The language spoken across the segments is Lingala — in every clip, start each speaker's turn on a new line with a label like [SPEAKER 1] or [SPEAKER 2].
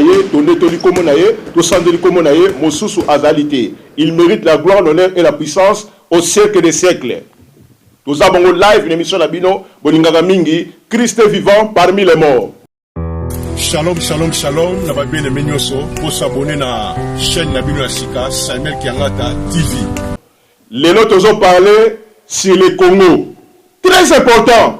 [SPEAKER 1] ye tondetoli nkombo na ye tosanzeli nkombo na ye mosusu azali te il mérite la gloire l'honneur et la puissance au siècle des siècles toza bango live na émission na bino bolingaka mingi christ est vivant parmi les morts shalom
[SPEAKER 2] shalom shalom na babieneme nyonso bosabone na chaîne na bino ya sika samuel kiangata tv
[SPEAKER 1] lelo tozo parle sur le congo très important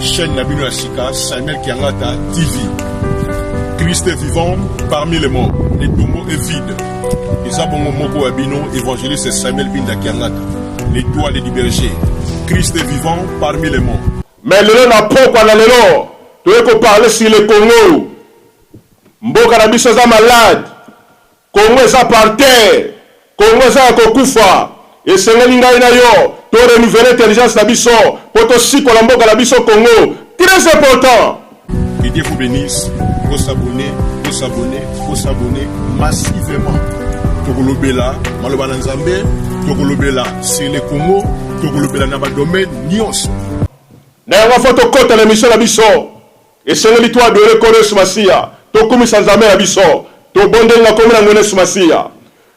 [SPEAKER 1] Chaîne na bino
[SPEAKER 2] ya sika Samuel Kiangata TV. Christ est vivant parmi les morts. Le tombeau est vide. Eza bongo moko ya bino évangéliste Samuel Binda Kiangata. L'étoile du berger. Christ est vivant parmi les morts. Mais lelo na
[SPEAKER 1] pokwa na lelo toye ko parler sur le Congo. Mboka na biso eza malade. Congo eza par terre, Congo eza ya kokufa, esengeli ngai na yo to renouveler intelligence na biso po to sikola mboka na biso Congo, très important. Que Dieu vous
[SPEAKER 2] benisse bo s'abonner bo s'abonner bo s'abonner massivement tokolobela maloba na nzambe tokolobela sur le congo tokolobela na badomaine nyonso na
[SPEAKER 1] yango fo tokota na emission na biso Esengeli to adore Nkolo Yesu Masiya, to kumisa Nzambe na biso, to bondeli na kombo na Nkolo Yesu Masiya.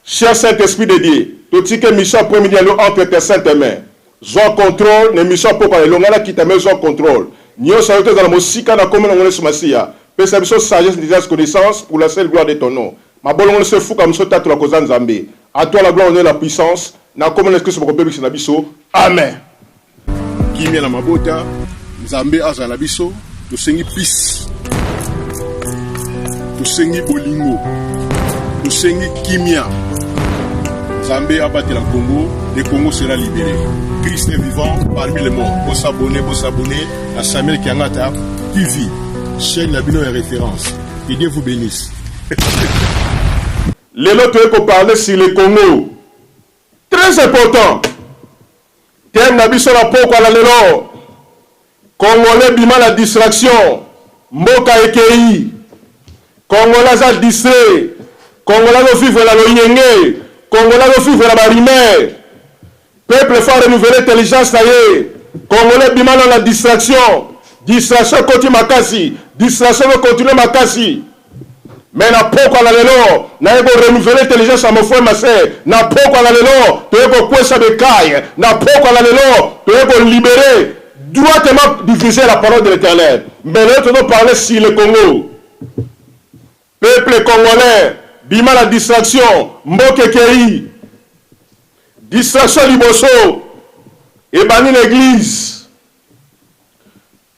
[SPEAKER 1] Cher Saint Esprit de Dieu, to tiki emission ya après midi na yo entre tes saintes mains. Zua controle na emission ya pokwa na elonga na Kitame zua controle. Nionso na yo to ezala mosika na kombo na Nkolo Yesu Masiya. Pesa biso sagesse, intelligence, connaissance pour la seule gloire de ton nom. Mabolongo nionso efukama biso tatola koza Nzambe. A toi la gloire, honneur et la puissance. Na kombo na Yesu Klisto boko bebisa na biso. Amen.
[SPEAKER 2] kimia na mabota nzambe azala biso tosengi peace tosengi bolingo tosengi kimia nzambe abatela congo le congo sera libere christ est vivant parmi le monde bosabone bosabone na samuel kiangata tv chaîne na bino ya référence que dieu vous bénisse
[SPEAKER 1] lelo toyei koparle sur le congo Tres important theme na biso na pokwa na lelo congolais bima na distraction mboka ekeyi congolais aza distrait congolais azo vivre na loyenge congolais azo vivre na ba rumeur peuple faut renouveler intelligence na ye congolais bima na na distraction distraction ekoti makasi distraction ezo continuer makasi Mais na pokwa na lelo naye ko renouveler intelligence ya mon frère Masse. Na pokwa na lelo toye ko kwesa Bekaye. Na pokwa na lelo toye ko liberer droitement diviser la parole de l'Eternel. Mais lelo tozo parler sur le Congo. Peuple congolais bima na distraction mboka ekeyi. Distraction liboso ebandi na eglise.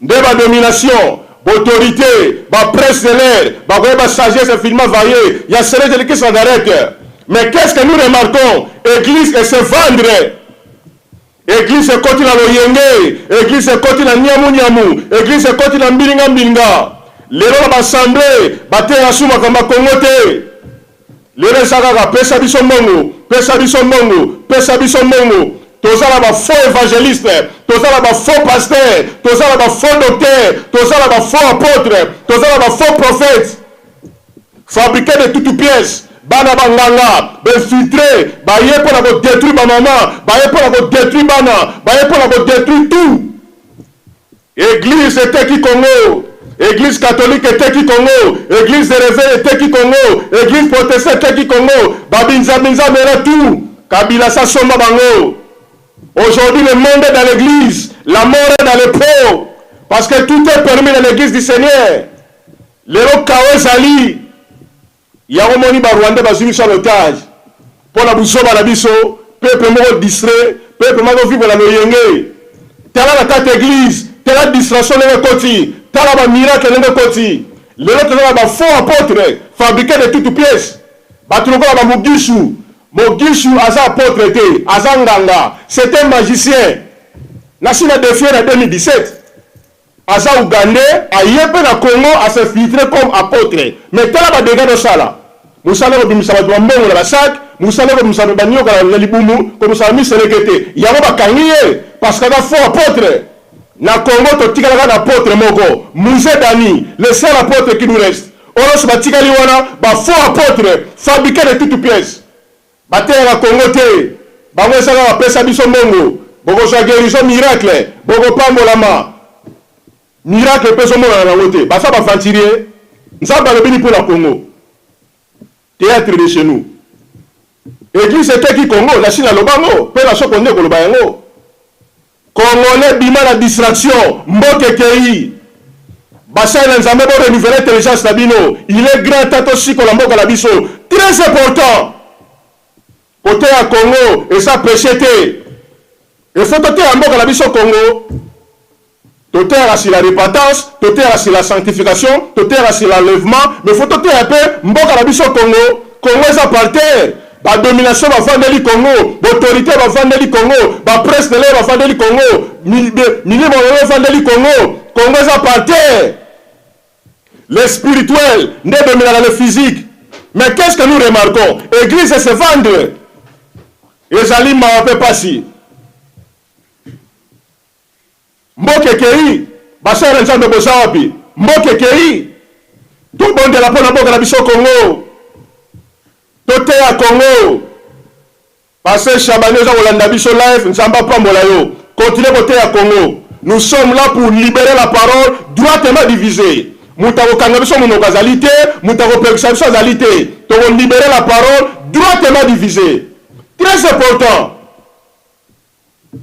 [SPEAKER 1] Nde ba domination, b'autorite, ba prince de l'air bakoyeba sagesse infiniment varie ya celete de christ Nazareth. Mais qu'est ce que nous remarquons, eglise e se vendre, eglise ekoti na loyenge, eglise ekoti na niamu niamu, eglise ekoti na mbilinga mbilinga. Lelo na b'assemblee, bateya lisusu makambo ya Congo te. Lelo eza kaka pesa biso mbongo, pesa biso mbongo, pesa biso mbongo. Toza na ba faux evangelistes, toza na ba faux pasteurs, toza na ba faux docteurs, toza na ba faux apotres, toza na ba faux prophètes. Fabriquer de toutes pièces, bana ba nganga, ba infiltres, baye pona ko detruire ba maman, baye pona ko detruire bana, baye pona ko detruire tout. Eglise eteki Congo, eglise catholique eteki Congo, eglise de reveil eteki Congo, eglise protesta eteki Congo, ba binzabinza mela tout, kabila asi asomba bango. Aujourd'hui le monde est dans l'eglise, la mort est dans les pros, parce que tout est permis dans l'eglise du seigneur. Lelo chaos ezali. Yango omoni ba rwandais bazui biso en otage pona buzoba na biso peuple moko distrait peuple mazo vivre na loyenge tala na kati ya eglise tala distration ndenge ekoti tala ba miracle ndenge ekoti lelo toza na ba faux apotre fabrique de toute piece batu lokola ba mugishu mogishu aza apotre te aza nganga c'est un magicien nasi na defie na 2017 Aza ougandais aye pe na congo a se filtre comme apotre mais tala ba degats do sala musala eko bimisa batu ba mbongo na ba sac musala eko bimisa ba nioka na libumu ko musala mi selekete yango ba kangi ye parce que aza faux apotre na congo to tikala kaka na apotre moko muze dani le seul apotre qui nous reste oyo nionso ba tikali wana ba faux apotre fabrique de toute pièce Bateyaka Congo te bango eza kaka pesa biso mbongo bokozua guerison miracle bokopambolama miracle pe ezomonana nango te baza ba venturier nzambe alobi ni pona Congo theatre de chez nous eglise eteki Congo nasi nalobango pe nasokonde koloba yango. Congolais bima na distraction mboka ekeyi basali na nzambe bo renouveler intelligence na bino il est grand temps tosikola mboka na biso très important koteya congo eza peche te il faut toteya mboka na biso congo toteyaka sur la repentance toteyaka sur la sanctification toteyaka sur l'enlèvement mais faut toteya pe mboka na biso congo Congo eza par terre ba domination bavandeli Congo b'autorite bavandeli Congo ba presse de l'air bavandeli Congo milimo lelo evandeli Congo Congo eza par terre le spirituel nde edominaka le physique mais qu'est-ce que nous remarquons église se vendre ezali mawa mpe pasi Mboka ekeyi basali na nzambe boza wapi mboka ekeyi tobondela mpo na mboka na biso congo toteya congo paster shabani oza kolanda biso live nzambe apambola yo continue koteya congo nous sommes là pour libérer la parole droitement divisée moto akokanga biso monoko azali te moto akopekisa biso azali te tokolibere la parole droitement divisée très important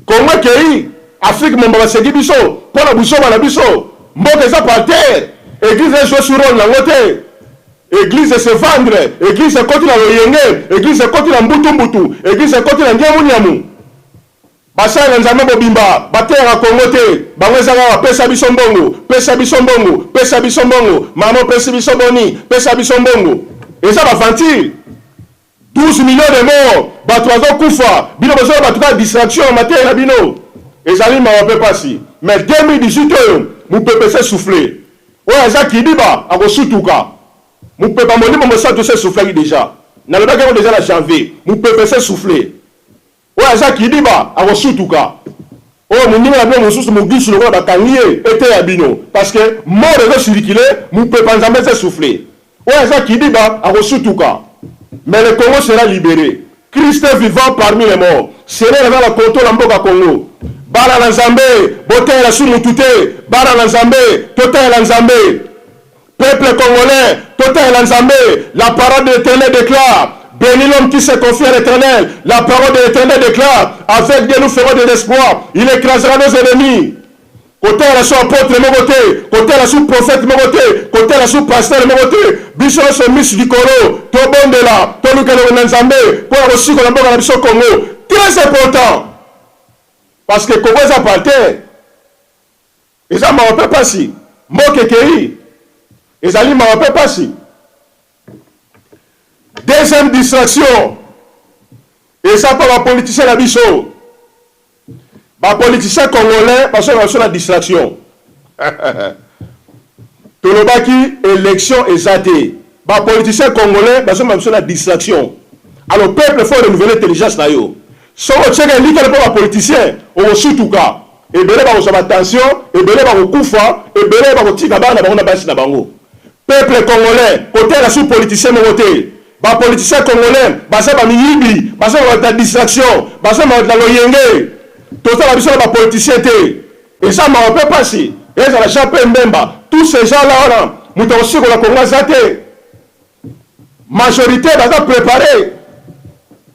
[SPEAKER 1] Congo ekeyi, Afrique momba baseki biso mpo na buzoba na biso. Mboka eza par terre, eglise e jouer su role na ngo te. Eglise e se vendre, eglise ekoti na loyenge, eglise ekoti na mbutu mbutu, eglise ekoti na niamu niamu. Basali na Nzambe mobimba bateyaka Congo te, bango eza kaka pesa biso mbongo, pesa biso mbongo, pesa biso mbongo, mama opesi biso boni, pesa biso mbongo. Eza ba aventure. 12 millions de morts bato bazo kufa bino bozo na bato kaka distraction na mateya na bino ezali mawa pe pasi mais 2018 oyo mupepe se souffle oyo aza kidiba akosutuka mupepa molimo mosatu se soufflaki deja nalobaki yango deja na janvier mupepe se souffle Oyo aza kidiba akosutuka. Oyo moninga na bino mosusu mogusu lokola bakangi ye eteya bino parce que mort ezo circuler mupepa nzambe ezo essouffler oyo aza kidiba akosutuka mais le congo sera libere christ est vivant parmi les morts seigneur aza na control ya mboka congo bana na nzambe boteyela su mutu te bana na nzambe toteyela nzambe Peuple congolais totalela nzambe la parole de l'eternel declare Beni l'homme qui se confie à l'eternel la parole de l'eternel declare avec Dieu nous ferons des exploits il écrasera nos ennemis kotalela su apotre moko te kotalela su prophète moko te kotalela su pasteur moko te biso nyonso misu likolo tobondela toluka elongo na nzambe mpo na kosikola mboka na biso congo très important parce que congo eza par terre Eza mawa mpe pasi, mboka ekeyi, ezali mawa mpe pasi. Deuxième distraction, eza mpo ba politiciens na biso, ba politiciens congolais bazongaka biso na distraction tolobaki election eza te, ba politiciens congolais bazongaka biso na distraction. Alors peuple faut renouveler intelligence na yo, soki otiaka elikya mpo ba politiciens okosutuka. Ebele bakozwa ba tension, ebele bakokufa, ebele bakotika bana na bango na basi na bango. Peuple congolais kotala sous politicien moko te. Ba politiciens congolais baza ba miyibi, baza bato ya distraction, baza bato ya loyenge. Toza na biso na ba politiciens te. Eza mawa mpe pasi. Ezala Jean Pierre Mbemba, tous ces gens là wana moto akosikola Congo aza te. Majorite baza prepare,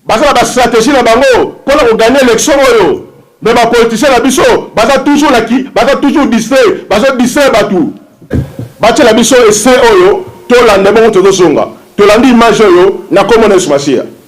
[SPEAKER 1] baza na ba strategie na bango pona ko gagner election oyo mais ba politiciens na biso baza toujours na ki baza toujours distrait, bazo distraire batu. Batiela biso ese oyo tolanda ebongo tozozonga tolandi image oyo na kombo na yesu masiya.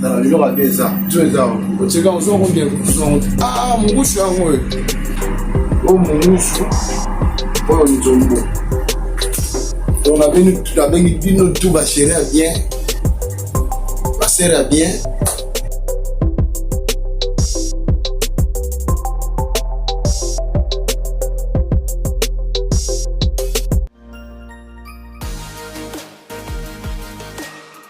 [SPEAKER 3] na lelo babe eza to eza otika ozwa konde ah mungusu yango oyo o mungusu oyo nzombo donc nabengi bino tu basere ya bien basere ya bien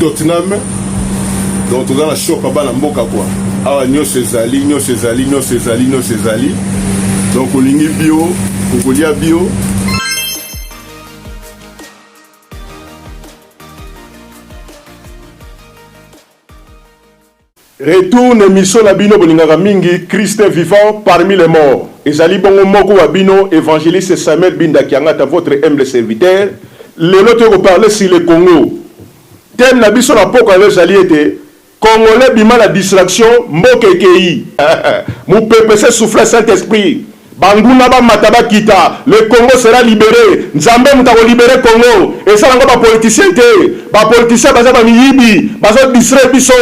[SPEAKER 2] Tottenham donc toza na shop ya bana mboka kwa awa nyonso ezali nyonso ezali nyonso ezali nyonso ezali donc olingi bio okolia bio
[SPEAKER 1] Retour na emission na bino bolingaka mingi Christ est vivant parmi les morts ezali bongo moko wa bino evangeliste Samuel Binda Kiangata votre humble serviteur lelo toye ko parler sur le Congo thème na biso na pokwa lelo ezali ete congolais bima na distraction mboka ekeyi mupepe se souffla saint esprit Banguna bamata bakita le Congo sera libere nzambe mutu ako libere Congo eza nango ba politiciens te ba politiciens baza ba miyibi bazo distraire biso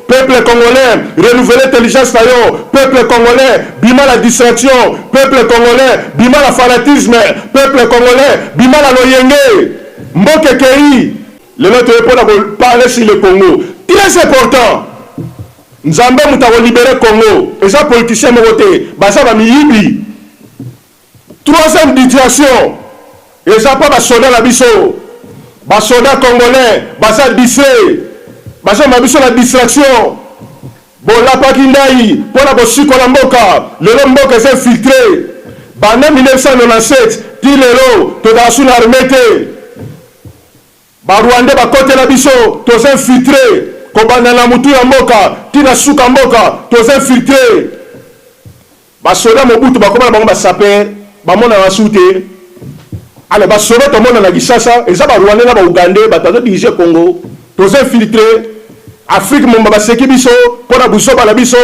[SPEAKER 1] peuple congolais renouveler intelligence na yo peuple congolais bima na distraction peuple congolais bima na fanatisme peuple congolais bima na loyenge mboka ekeyi lelo toye pona ko parler sur le Congo très important. Nzambe mutu ako libere Congo eza politicien moko te baza ba miyibi troisième ditraction eza pa ba soda na biso ba soda congolais baza distrait bazo mema biso na distraction bolapaki ndayi pona kosikola mboka lelo mboka eza infiltre banda 1997 ti lelo tozala su na armee te. Ba rwandais bakotela biso toza infiltre kobanda na mutu ya mboka ti na suka mboka toza infiltre ba soda mobutu bakoma na bango ba sapeur bamonana su te ale ba soda tomona na kisasa eza ba rwandais na ba ougandais batu azo dirige congo toza infiltre afrique momba baseki biso pona buzoba na biso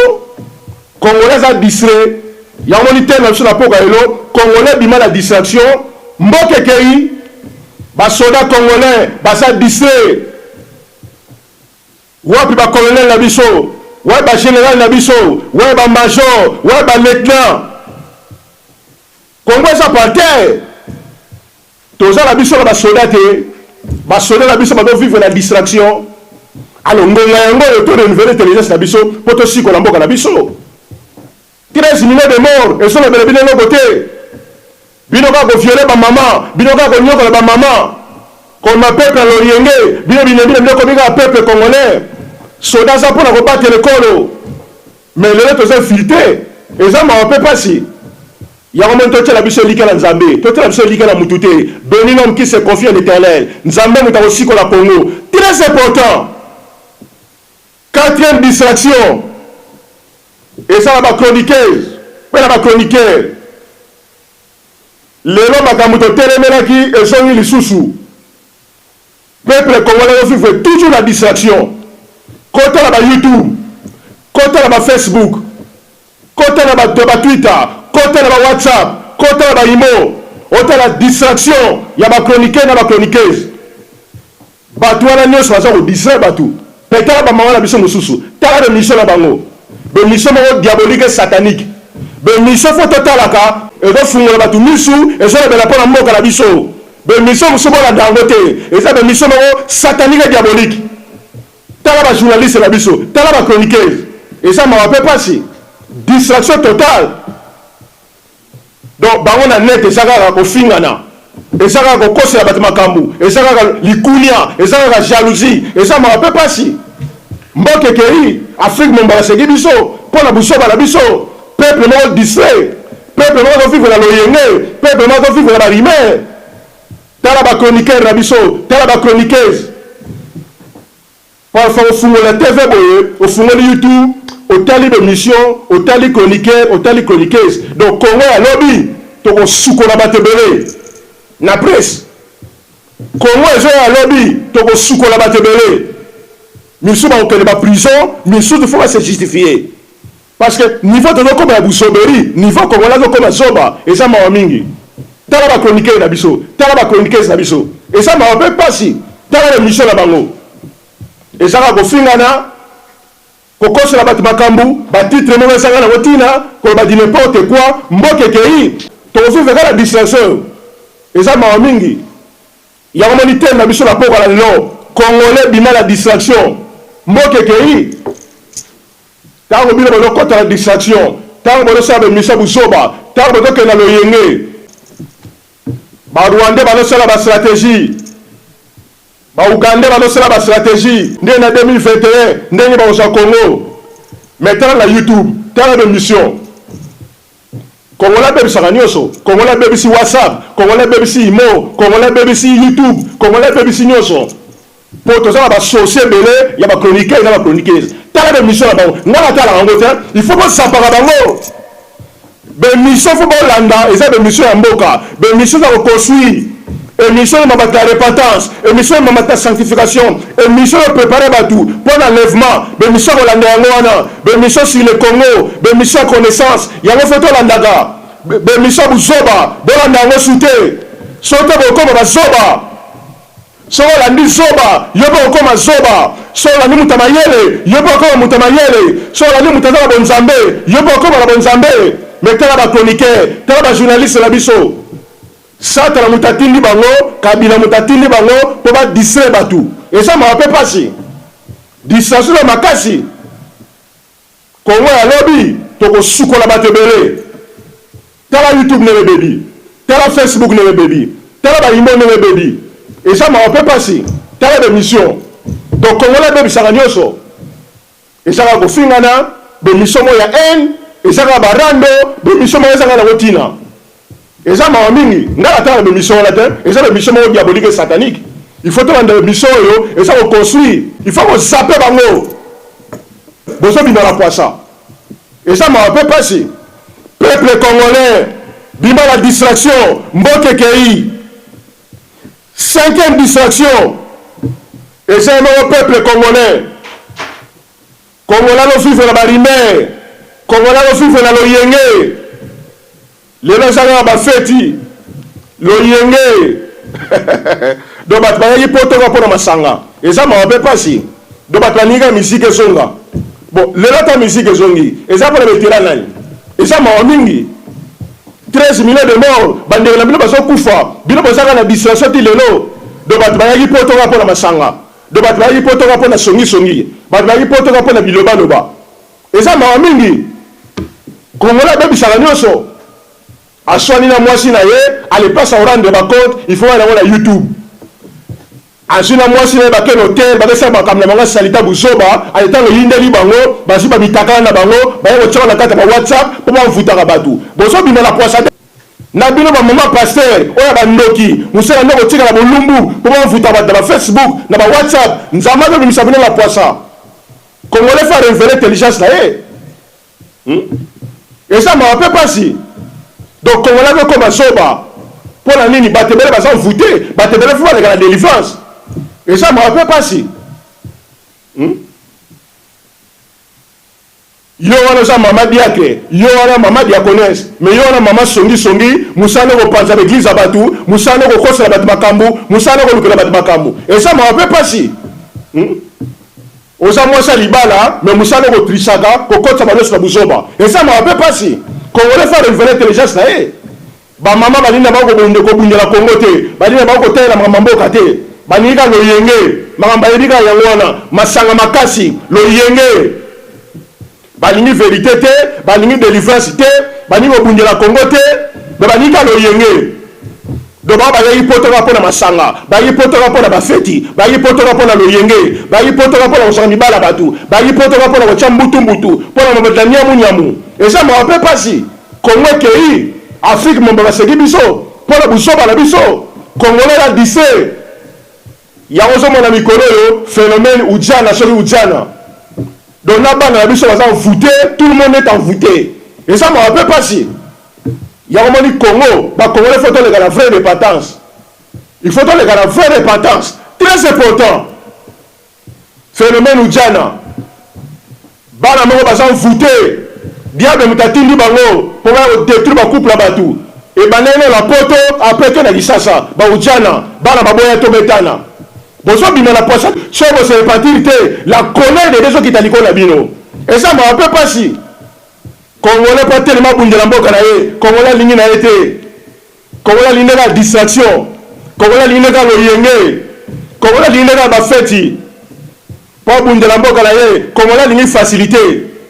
[SPEAKER 1] Congolais aza distrait yango omoni teint na biso na pokwa lelo congolais bima na distraction mboka ekeyi ba soda congolais baza distrait wapi ba colonel na biso wapi ba general na biso wapi ba major wapi ba lieutenant Congo eza par terre Toza na biso na ba soda te, ba soda na biso bazo vivre na distraction, alors ngonga yango oyo to renouveler intelligence na biso po to sikola mboka na biso. 13 millions de morts ezo lobela bino eloko te, bino kaka ko violer ba mama, bino kaka ko niokola ba mama, ko ma peuple ya lorienge, bino bilembi na bino ekomi kaka peuple congolais, soda aza pona ko batela ekolo. Mais lelo toza flite eza mawa pe pasi yango omoni totiela biso elikya na nzambe totiela biso elikya na mutu te beni l'homme qui se confie à l'eternel nzambe mutu akosikola congo tres important quatrième distraction eza na ba chroniqueuse pe na ba chroniqueur lelo makambu totelemelaki ezongi lisusu Peuple congolais ezo vivre toujours na distraction kota na ba youtube kota na ba Facebook kota na ba ba twitter kota na ba whatsapp kota na ba imo otala distraction ya ba chroniquer na ba chroniqueuse batu wana nionso baza ko distraire batu pe tala ba maman na biso mosusu tala ba mission na bango ba mission moko diabolique satanique ba mission fo totalaka ezo fungola batu misu ezo lobela pona mboka na biso Ba emission mususu bolanda yango te eza ba emission moko satanique diabolique tala ba journaliste na biso tala ba chroniqueuse eza mawa pe pasi distraction totale donc bango na net eza kaka kofingana eza kaka kokosela bato makambo eza kaka likunia eza kaka jalousie eza mawa pe pasi mboka ekei afrique momba baseki biso mpo na busoba na biso peuple moko distrait Peuple moko azo vivre na loyenge, peuple moko azo vivre na ba rumeurs. Tala ba chroniqueurs na biso, tala ba chroniqueuses. Parfois ofungola TV boye, ofungoli YouTube, otali ba emissions, otali chroniqueurs, otali chroniqueuses. Donc Congo ya lobi toko sukola bato ebele na presse. Congo ezo ya lobi toko sukola bato ebele. Misusu bakokende ba prison, misusu faut ba se justifier. Parce que niveau tozo koma ya buzoberi, niveau congolais azo koma zoba, eza mawa mingi. Tala ba chroniqueurs na biso, tala ba chroniqueuses na biso, eza mawa pe pasi. Tala ba emissions na bango, eza kaka kofingana, kokosela batu makambu, ba titres moko ezanga nango tina, koloba du n'importe quoi. Mboka ekeyi, toko vivre kaka na distraction oyo, eza mawa mingi. Yango omoni theme na biso na pokua na lelo, congolais bima na distraction, mboka ekeyi. Tango bino bozo kota na distraction, tango bozo sala ba emission ya buzoba, tango bozo kende na loyenge, ba rwandais bazo sala ba strategie, ba ougandais bazo sala ba strategie, nde na 2021 ndenge bako zwa Congo, mais tala na YouTube, tala ba emission. Congolais abebisaka nioso, congolais abebisi WhatsApp, congolais abebisi imo, congolais abebisi YouTube, congolais abebisi nioso po toza na ba sources ebele ya ba chroniqueurs na ba chroniqueuses. Tala ba emissions na bango, nga na talaka yango te, il faut bo sapaka bango. Ba emissions faut bolanda eza ba emissions ya mboka, ba emissions za ko construire. Emission ya mabata ya repentance, emission ya mamata ya sanctification, emission ya preparer batu mpo na enlèvement, b'emission ya kolanda yango wana, b'emission sur le Congo, b'emission ya connaissance, yango faut tolandaka, b'emission ya buzoba bolanda yango su te, soki te bokokoma ba zoba, soki olandi zoba yo mpe okokoma zoba, soki olandi moto ya mayele yo mpe okokoma moto ya mayele, soki olandi moto aza na bonzambe yo mpe okokoma na bonzambe, mais tala ba chroniqueurs, tala ba journalistes na biso. Satana moto atindi bango, kabila moto atindi bango po ba distraire batu. Eza mawa pe pasi. Distraction ya makasi. Congo ya lobi toko sukola batu ebele. Tala YouTube ndenge ebebi. Tala Facebook ndenge ebebi. Tala ba imbo ndenge ebebi. Eza mawa pe pasi. Tala ba emission. Donc congolais abebisaka nioso. eza kaka kofingana, b'emission moko ya haine, eza kaka ba rando, b'emission moko ezanga nango tina. Eza mawa mingi, nga natala b'emission wana te, eza b'emission moko diabolique et satanique. Il faut tolanda b'emission oyo eza ko construire. Il faut ko zapper bango. Bozo bima na pwasa. Eza mawa pe pasi. Peuple congolais, bima na distraction, mboka ekeyi. Cinquième distraction eza ye moko peuple congolais. Congolais azo vivre na ba rumeurs, congolais azo vivre na loyenge. Lelo eza kaka ba feti, loyenge donc batu bayaki poto kaka pona masanga. Eza mawa pe pasi. Donc batu balingi kaka musique ezonga. Bon lelo ata musique ezongi eza pona ba etela nani? Eza mawa mingi. 13 millions de morts bandeko na bino bazo kufa bino boza kaka na distraction ti lelo donc batu bayaki poto kaka pona masanga donc batu bayaki poto kaka pona songi songi batu bayaki poto kaka pona biloba loba eza mawa mingi congolais abebisaka nionso aswani na mwasi na ye allez pas s'en rendre ba compte il faut wana ngo na youtube. Azui na muasi naye ba ken hotel bazo sala makambo na bango ya salita buzoba ale tango eyindeli bango bazui ba mitakala na bango baye kotia ngo na kati ya ba whatsapp po ba nvutaka batu bozo bima na puasa na bino ba maman pasteur oyo ya ba ndoki musala nde kotikala bolumbu po ba nvuta batu na ba facebook na ba whatsapp nzambe azo bimisa bino na puasa congolais fa renvele intelligence naye. Hum eza mawa pe pasi donc congolais ako koma zoba pona nini batu ebele baza envoute batu ebele faut baleka na delivrance eza mawa pe pasi hum yo wana oza mama diakre yo wana mama diaconese me yo wana mama songisongi mosala nde kopanza baeglize ya bato mosala nde kokosela bato makambo mosala nde kolukela bato makambo eza mawa mpe mpasi hmm? Oza mwasi ya libala mais musala oko trichaka ko kotisa ba loso na buzoba eza mawa pe pasi congolais faut a renouveler intelligence na ye ba maman balingi na bango ko bundela congo te balingi na bango ko talela makambo ya mboka te balingi kaka loyenge makambo bayebi kaka yango wana masanga makasi loyenge Balingi verite te, balingi delivrance te, balingi kobundela Congo te, mais balingi kaka loyenge. Donc bango bayaki poto kaka pona masanga, bayaki poto kaka pona ba feti, bayaki poto kaka pona loyenge, bayaki poto kaka pona kosaka mibali ya batu, bayaki poto kaka pona kotia mbutu mbutu, pona mabatela niamu niamu. Eza mawa pe pasi. Congo ekeyi, Afrique momba baseki biso pona buzoba na biso. Congolais la dife. Yango ozo mona mikolo oyo phenomène ujana soki ujana donc na bana na biso baza envoute tout le monde est envoute eza mawa pe pasi yango moni congo ba congolais faut toleka na vrai repentance il faut toleka na vrai repentance très important phenomène ujana Bana moko baza envoute, diable mutu atindi bango po baya ko detruire ba couple ya batu, ebandaki nanu na poto apres eke na kisasa, ba ujana, bana baboya to betana, bozo bima na puasa soki bo se repentir te la colere de Dieu ezo kita likolo na bino, eza mawa pe pasi, congolais po atelema abundela mboka na ye, congolais alingi na ye te. Kongo nalingi nde kaka distraction, Kongo nalingi nde kaka loyenge, Kongo nalingi nde kaka ba feti po abundela mboka na ye, Kongo nalingi facilite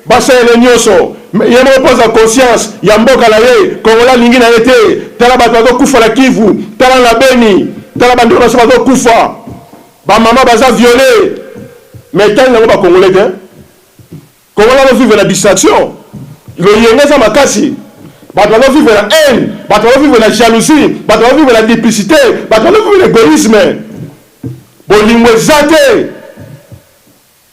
[SPEAKER 1] basalela ye nionso mais ye moko po azwa conscience ya mboka na ye, Kongo nalingi na ye te, tala batu bazo kufa na Kivu, tala na Beni, tala ba ndeko na biso bazo kufa, ba maman baza viole mais etali nango ba Kongolais te. Congolais azo vivre na distraction, loyenga eza makasi, batu bazo vivre na haine, batu bazo vivre na jalousie, batu bazo vivre na duplicite, batu bazo vivre na egoisme, bolingo eza te,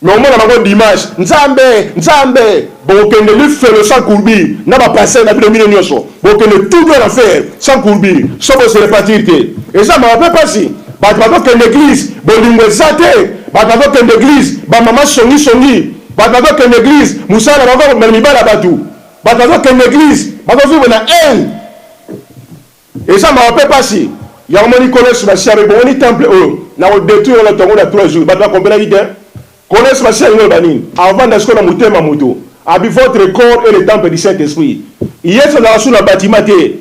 [SPEAKER 1] mais omona bango dimanche nzambe nzambe, bokokende lifelo sans courbi na ba pasteur na bino bino nioso. bokende tout droit na fer sans courbure soki bose repartir te eza mawa mpe mpasi bato bazokende eglise bolingo eza te bato bazokende eglise bamama songisongi bato bazokende eglise mosala na bango mibala ya bato bato bazokende eglise bakozwivre na haine eza mawa mpe mpasi yango moni kolo yesu masiya ebongoni temple oyo na kodetruire na tongo na 3 jours bato bakompelaki te Connaisse ma sœur loba nini avanda sikoyo na motema moto abi votre corps est le temple du saint esprit yesu azalaka su na batiment te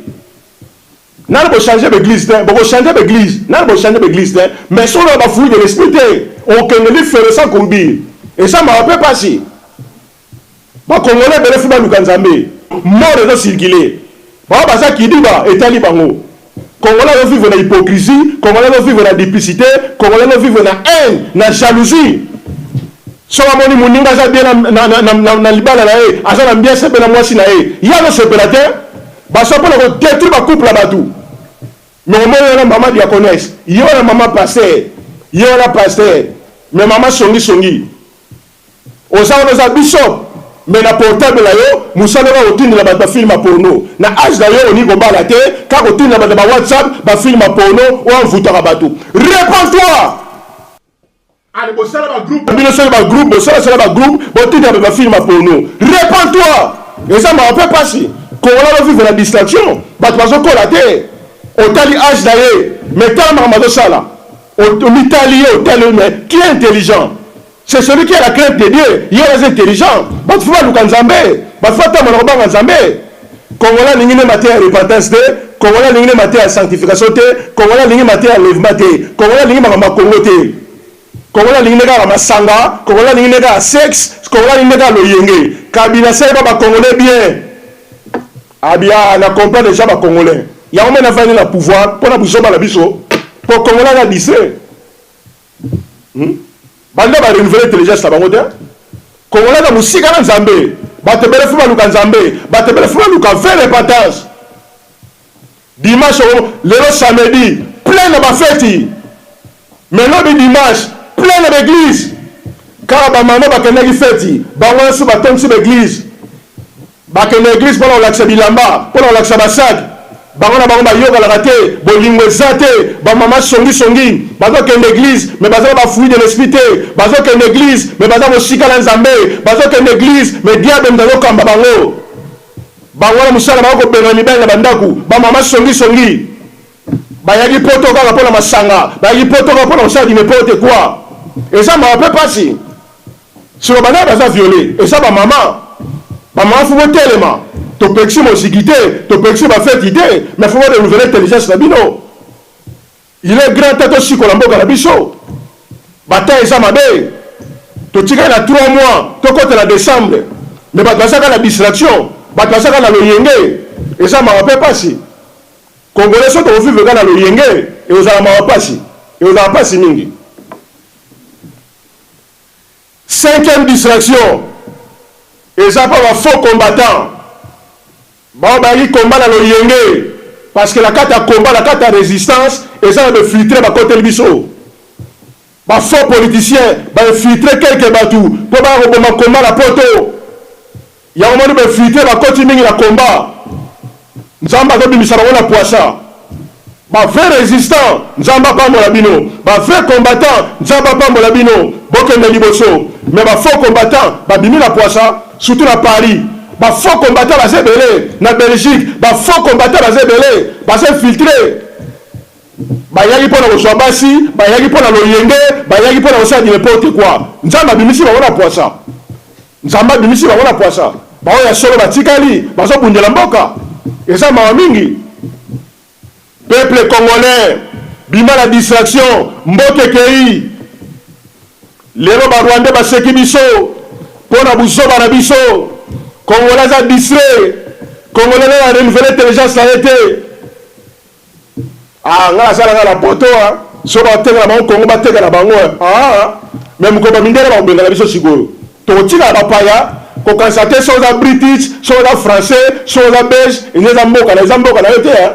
[SPEAKER 1] nani bo changer ba eglise te boko changer ba eglise nani bo changer ba eglise te mais solo ba fruit de l'esprit te okende li fere sans courbure esa mawa pe pasi Ba congolais ebele faut baluka nzambe mort ezo circuler baoyo baza kidiba etali bango congolais azo vivre na hypocrisie congolais azo vivre na duplicite congolais azo vivre na haine na jalousie soki amoni moninga aza bien na, na, na, na, na, na libala na ye aza na mbiase mpe na mwasi na ye ye azosepela te baso mpo na kodetruire bacouple ya bato me omoni wana mama diacones ye wana mama paster ye wana paster me mama songisongi Oza wana oza bishop mais na portable na yo musala kaka kotindela batu ba film ya porno. Na age na yo olingi kobala te kaka kotindela batu na ba whatsapp ba film ya porno oyo envoutaka batu. Repend toi! Allez bosala ba groupe na bino soki ba groupe bosala sala ba groupe botindela batu ba film ya porno. Repend toi! Eza mawa pe pasi. Congolais azo vivre na distraction batu bazo kola te otali age na ye mais tala makambo azo sala omitali ye otali ye mais tu es intelligent. C'est celui qui a la crainte de Dieu, ye wana aza intelligent. Batu faut baluka Nzambe, batu faut batama na kobanga Nzambe. Congolais alingi nde mateya ya repentance te, Congolais alingi nde mateya ya sanctification te, Congolais alingi mateya ya enlèvement te, Congolais alingi makambo ya Congo te. Congolais alingi nde kaka masanga, Congolais alingi nde kaka sexe, Congolais alingi nde kaka loyenge. Kabila asali ba ba Congolais bien. Abia na comprendre dejà ba Congolais. Yango mena vandi na pouvoir pona buzoba na biso. Po Congolais aza distrait. Hum balinga ba renouveler intelligence na bango te congolais na musika na nzambe bato ebele fo baluka nzambe bato ebele fo baluka vrai repentance dimanche okomo lelo samedi plein na bafeti mais lobi dimanche plein na baeglise kaka bamama bakendaki feti bango nyonso batondisi baeglise Bakende na eglise pona kolakisa bilamba, pona kolakisa ba sac, bango na bango bayokanaka te, bolingo eza te, ba maman songi songi, bazo kende eglise mais baza na ba fruit de l'esprit te, bazo kende eglise mais baza mosika na Nzambe, bazo kende eglise mais diable mutu azo kamba bango, bango na musala bako kobengana mibali na ba ndaku, ba maman songi songi, bayaki poto kaka pona masanga, bayaki poto kaka pona kosala du neporte quoi, eza mawa pe pasi. Sima ba nani baza viole eza ba mama ba mama faut botelema topekisi moziki te topekisi ba feti te mais faut bo renouvele intelligence na bino il est grand temps tosikola mboka na biso ba temps eza mabe totikali na 3 mois tokota na decembre mais bato baza kaka na distraction bato baza kaka na loyenge eza mawa mpe mpasi congolais so tokofivre kaka na loyenge ekozala mawa mpasi ekozala mpasi mingi Cinquième distraction eza pa ba faux combattants baoyo bayaki combat na loyenge parce que na kati ya combat na kati ya resistance eza na ba infiltres bakoteli biso ba faux politiciens ba infiltres quelques batu po baya koboma combat na poto Yango moni ba fuites bakoti mingi na combat nzambe azo bimisa bango na puasa ba vrai resistant nzambe apambola bino ba vrai combattant nzambe apambola bino bokende liboso mais ba faux combattant ba bimi na puasa surtout na paris ba faux combattant baza ebele na belgique ba faux combattant baza ebele baza infiltre bayaki mpo na kozwa basi bayaki mpo na loyenge bayaki mpo na kosala n'importe quoi nzambe abimisi bango na puasa Nzambe abimisi bango na pwasa. Baoyo ya solo batikali bazo bundela mboka eza mawa mingi peuple congolais bima na distraction mboka ekeyi lelo ba rwandais baseki biso pona buzoba na biso congolais aza distrait congolais nani a renouvele intelligence na ye te Ah nga naza nanga na poto hein soki batekela bango Congo batekela bango hein aah mais mokolo ba mindele bakobengana biso sikoyo tokotikala bapaya kokanisa te soki oza British soki oza français soki oza belge eza eza mboka na eza mboka na yo te hein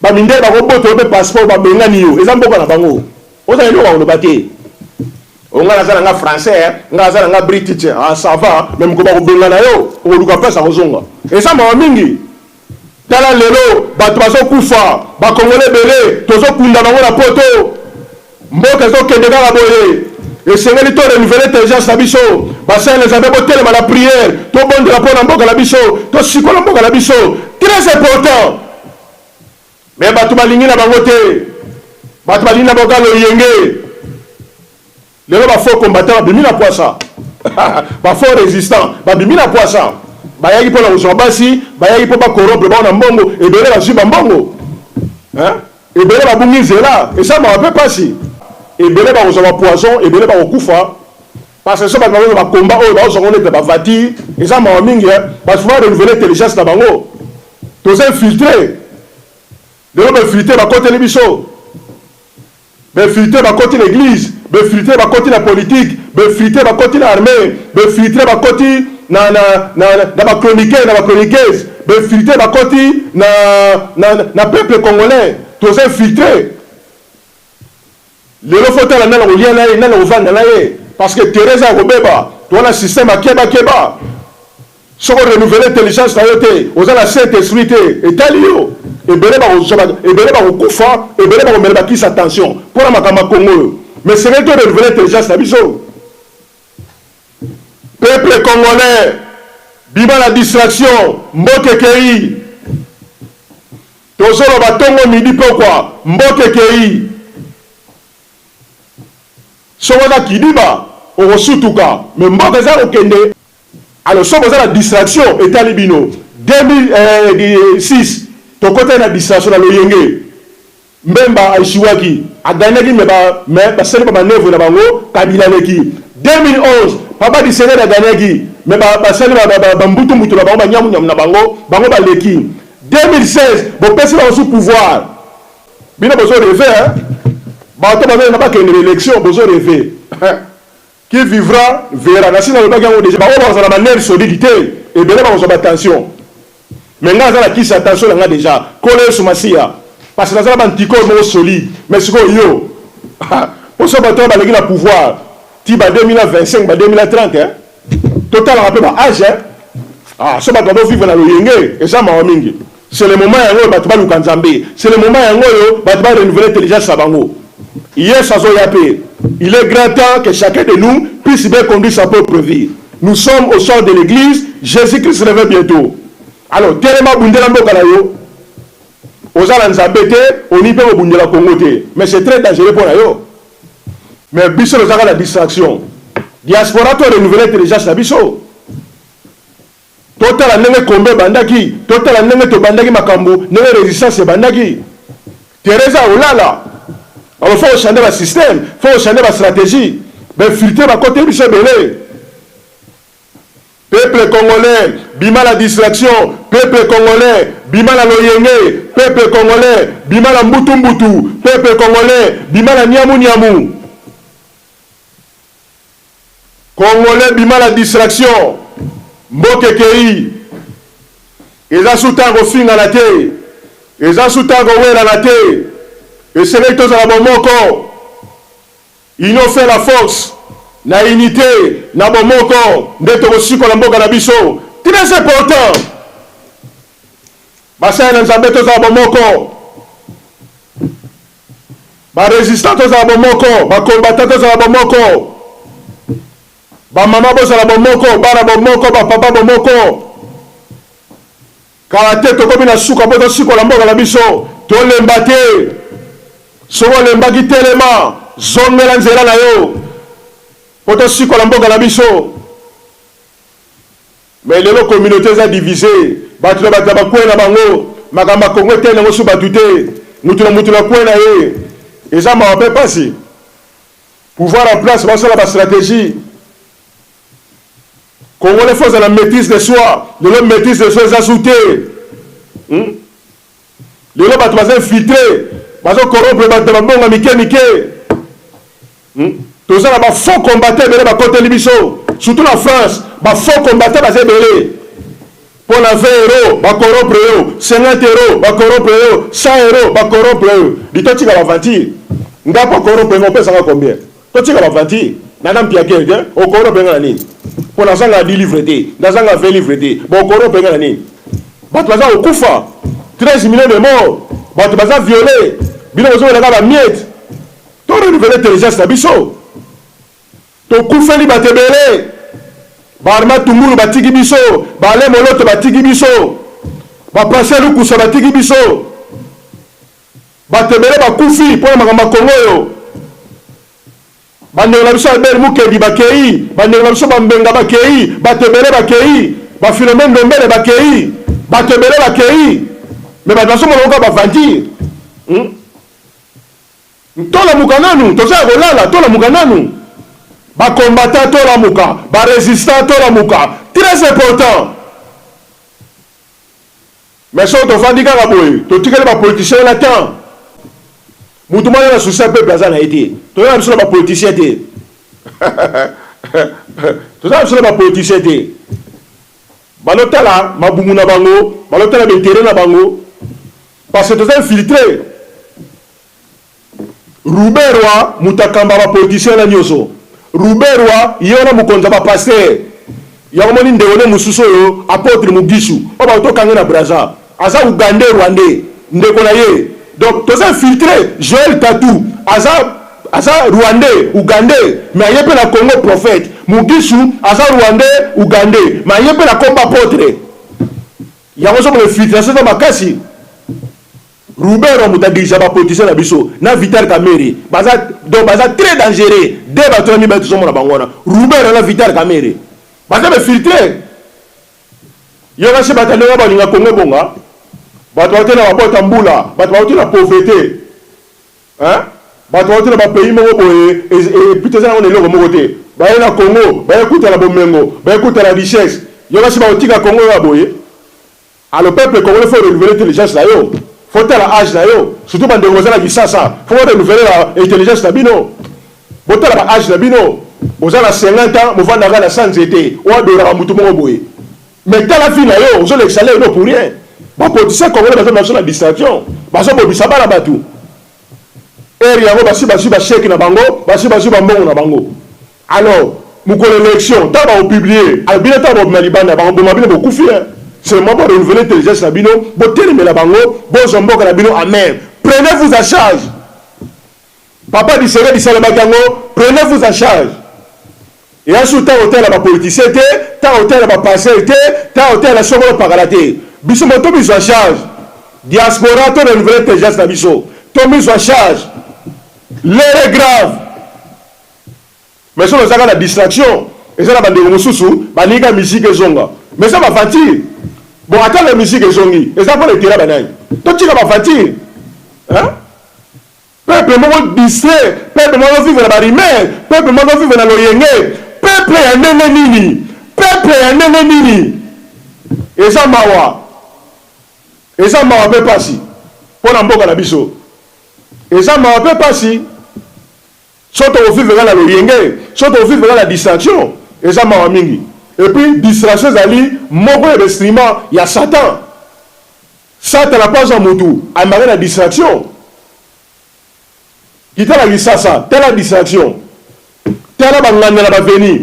[SPEAKER 1] ba mindele bakobota yo pe passeport babengani yo eza mboka na bango oza na eloko akoloba te o nga naza nanga français hein nga naza nanga British ah ça va mais mokolo bakobengana yo okoluka place akozonga eza mawa mingi Tala lelo batu bazo kufa ba congolais ebele tozo kunda bango na poto mboka ezo kende kaka boye esengeli to renouveler intelligence na biso ba saint les abe botelema na prière tobondela pona mboka na biso tosikola mboka na biso très important mais batu balingi na bango te batu balingi na boka loyenge Lelo ba faux combattants babimi na pwasa ba faux resistants babimi na pwasa bayaki mpo na kozwa basi bayaki mpo ba corrompre bango na mbongo ebele bazwi ba mbongo hein ebele babungi nzela esalmaka mpe pasi ebele bakozwa ba poison ebele bakokufa parce que so bato bakozwa ba combat oyo bakozwa ngo nete ba vati eza mawa mingi hein bato fo ba renouveler intelligence na bango toza infiltre lelo ba infiltre bakoteli biso Be filtre ba koti na eglise, be filtre ba koti na politique, be filtre ba koti na armee, be filtre ba koti na na na na ba chroniqueurs na ba chroniqueuses, be filtre ba koti na na na peuple congolais toza infiltre. Lelo faut tala nani akolia na ye, nani akovanda na ye parce que terrain eza ya kobeba, toza na système ya keba keba. Soki o renouveler intelligence na yo te, oza na saint esprit te, etali yo. Ebele bakozwa ba, ebele bakokufa, ebele bakomela ba kisi ya tension mpo na makambo ya Congo oyo. Mais esengeli to renouveler intelligence na biso. Peuple congolais, bima na distraction, mboka ekeyi. Tozoloba tongo, midi, pokwa, mboka ekeyi. Soki oza kidiba, okosutuka, mais mboka eza ya kokende. Alors soki boza na distraction etali bino 2006 tokotaki na distraction na loyenge mbemba a echouaki a gagnaki mais ba mais basali ba manœuvre na bango kabila aleki 2011 papa disenere a gagnaki mais ba basali ba ba ba mbutu mbutu na bango ba nyamu nyamu na bango bango baleki 2016 bopesi bango sous pouvoir bino bozo reve hein bato bazali na bakende na election bozo reve Qui vivra verra nasi nalobaki yango dejà baoyo bakozala ba nerfs solides te ebele bakozwa ba tension mais ngai naza na kisi ya tension na ngai dejà nkolo yesu masiya parce que naza na ba anticorps moko solide mais sikoyo yo poso bato oyo baleki na pouvoir ti ba 2025 ba 2030 hein totalaka mpe ba age hein ah so bato bazo vivre na loyenge eza mawa mingi C'est le moment yango oyo batu baluka Nzambe, c'est le moment yango oyo batu ba renouveler intelligence na bango. Yesu azoya pe, il est grand temps que chacun de nous puisse bien conduire sa propre vie. Nous sommes au sort de l'eglise, Jesus-Christ revient bientot. Alors telema bundela mboka na yo, oza na Nzambe te, olingi pe kobundela Congo te, mais c'est très dangereux pona yo. Mais biso tozalaka na distraction. Diaspora to renouveler intelligence na biso. Totala ndenge combat ebandaki, totala ndenge tobandaki makambu, ndenge resistance ebandaki. Theresa olala, alors faut changer ba système, faut changer ba strategie. Ba infiltre ba kote biso ebele. Peuple congolais, bima na distraction, peuple congolais, bima na loyenge, peuple congolais, bima na mbutu mbutu, peuple congolais, bima na niamu niamu. Congolais bima na distraction mboka ekeyi eza su temps ya kofingana te eza su temps ya kowelana te esengeli tozala bomoko union fait la force na unite na bomoko nde tokosikola mboka na biso tres important basali na nzambe tozala bomoko Ba resistant tozala bomoko, ba combatant tozala bomoko, ba mama bozala bomoko, bana bomoko, ba papa bomoko, kala te tokomi na suka po tosikola mboka na biso, tolemba te, soki olembaki telema, zongela nzela na yo po tosikola mboka na biso. Mais lelo communaute eza divise batu na batu na ba coin na bango makambo ya congo etali nango su batu te mutu na mutu na coin na ye eza mawa pe pasi pouvoir en place basala ba strategie congolais faut ozala maitrise de soi lelo maitrise de soi eza su te hmm? Lelo batu baza infiltre bazo corrompre batu na ba mbongo ya mike mike hmm? toza na ba faux combattant ebele bakoteli biso surtout na France ba faux combattant baza ebele mpo na 20 euro bakorompre yo 50 euro bakorompre yo 100 euro bakorompre yo litotika baventure ndako akorompre ngo opesaka combien Totika ba aventure nana mpiakele te okoro benga na nini mpo nazanga na 10 livre te nazanga 20 livre te bokoro benga na nini bato baza kokufa 13 millions de mort bato baza viole bino bozobelaka bamiete to renouvele intelligence na biso tokufeli bato ebele baarma tungulu batiki biso baale moloto batiki biso bapase lukusa batiki biso Bato ebele bakufi mpo na makambo ya Congo oyo. Bandeko na biso Albert Mukendi bakei, bandeko na biso Bambenga bakei, bato ebele bakei, ba Philomene Ndombele bakei, bato ebele bakei, mais bato nazomona yango kaka ba aventure. Hmm? Tolamuka nanu, toza ya kolala, tolamuka nanu. Ba combattants tolamuka, ba resistants tolamuka, très important. Mais soki tovandi kaka boye totikeli ba politiciens wana temps mutu moko aza na souci ya peuple aza na ye te toza na biso na ba politiciens te toza na biso na ba politiciens te balotala mabumu na bango balotala ba interet na bango parce que toza infiltre Ruberwa mutu akamba ba politiciens wana nioso ruberwa ye wana mokonzi ya ba pasteur yango omoni ndeko ne mosusu oyo apotre mugishu oyo bako to kanga ye na brazza aza ugandais rwandais ndeko na ye donc toza infiltre joel tatu aza aza rwandais ugandais mais aye pe na congo prophète mugishu aza rwandais ugandais mais aye pe na kombo apotre yango ozo mona infiltration eza makasi Ruberwa moto a dirigea ba politiciens na biso na Vital Kamerhe baza donc baza très dangereux de batu wana mibale tozomona bango wana Ruberwa na Vital Kamerhe baza ba filtre yoka chez bata ndenge balinga Congo ebonga batu bawuti na ba boite ya mbula batu bawuti na pauvrete hein batu bawuti na ba pays moko boye epuis toza nango na eloko moko te baye na Congo baye kutana bomengo baye kutana richesse yoka chez bakotika Congo oyo ya boye Allo peuple congolais faut renouveler intelligence na yo faut tala age na yo surtout ba ndeko boza na kisasa faut bo renouveler ba intelligence na bino bo tala ba age na bino oza na 50 ans movanda ka na sans nzete o adora ka mutu moko boye mais tala vie na yo ozo lekisa leo no pour rien ba politicien congolais bazo na biso na distraction bazo bobisa bana batu heure yango basi bazui ba chèque na bango basi bazui ba mbongo na bango Alors mokolo ya election tango bako publie alors bino tango bobima libanda bako boma bino bokufi hein seulement bo renouveler intelligence na bino botelemela bango bozwa mboka na bino en main prenez vous en charge papa Tshisekedi salobaki yango prenez vous en charge eya susu ntango otala bapolitisien te ntango otala bapasel te ntango otala sokolo pakala te biso mo to mizwa charge diaspora to renouvele intelligence na biso to mizwa charge lere grave Mais soki oza kaka na distraction eza na ba ndeko mususu balingi kaka musique ezonga mais eza ba aventure bon ata na musique ezongi eza pona etela ba nani totika ba aventure hein peuple moko distrait peuple moko vivre na ba rumeur peuple moko vivre na loyenge peuple ya ndenge nini peuple ya ndenge nini eza mawa eza mawa pe pasi pona mboka na biso eza mawa pe pasi Soki toko vivre kaka na loyenge, soki toko vivre kaka na distraction, eza mawa mingi. Et puis distraction ezali moko ya ba instruments ya Satan. Satana mpe aza mutu, amemaka na distraction. Kita na Kisasa, tala distraction, tala ba nganda na ba avenues,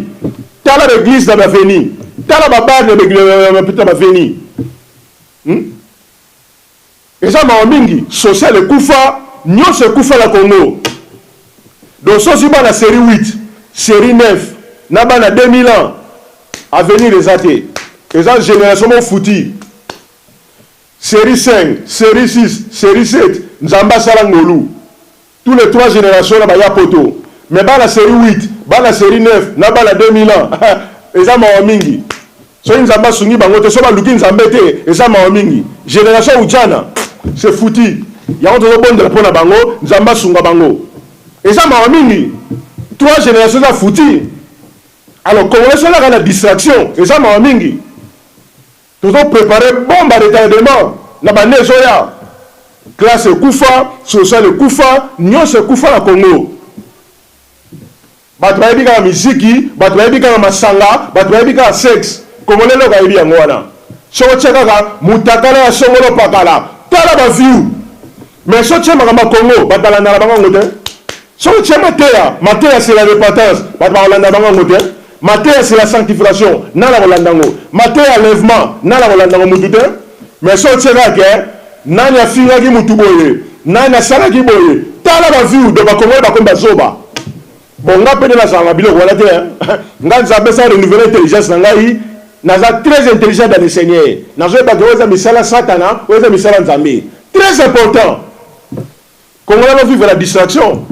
[SPEAKER 1] tala ba eglises na ba avenues, tala ba bars na ba avenues. Hum! Eza mawa mingi social ekufa nionso ekufa na congo dososi bana serie huit serie neuf na bana deux mille ans avenir eza te eza generation moko futi serie cinq serie six serie sept nzambe asala ngolu. Tous les trois generations na ba ya poto mais bana serie huit, bana serie neuf na bana 2000 ans eza mawa mingi soki nzambe asungi bango te soki baluki nzambe te eza mawa mingi generation ujana c'est foutu yango tozo bondela pona bango nzambe asunga bango eza mawa mingi trois generations eza foutu alors congolais soki alaka na distraction eza mawa mingi Tozo preparer bombe à retardement na b'annee ezoya. Classe ekufa, social ekufa, nionso ekufa na Congo. Batu bayebi kaka miziki, batu bayebi kaka masanga, batu bayebi kaka sex. Congolais eloko ayebi yango wana. Soki otie kaka mutakala ya songolo pakala, tala ba view. Mais soki otie makambo ya Congo, batu balandaka bango yango te. Soki otia mateya, mateya c'est la repentance, bato bakolanda bango yango te. Mateya c'est la sanctification, nani akolanda yango? Mateya enlèvement, nani akolanda yango? Mutu te. Mais soki otie kaka ke nani afingaki mutu boye, nani asalaki boye, tala ba view, donc ba congolais bakomi ba zoba. Bon nga pe nde nazala na biloko wana te hein. Nga Nzambe apesa renouveler intelligence na ngai, naza très intelligent dans le Seigneur. Nazoyeba ke oyo eza misala satana, oyo eza misala Nzambe. Très important. Congolais azo vivre na distraction.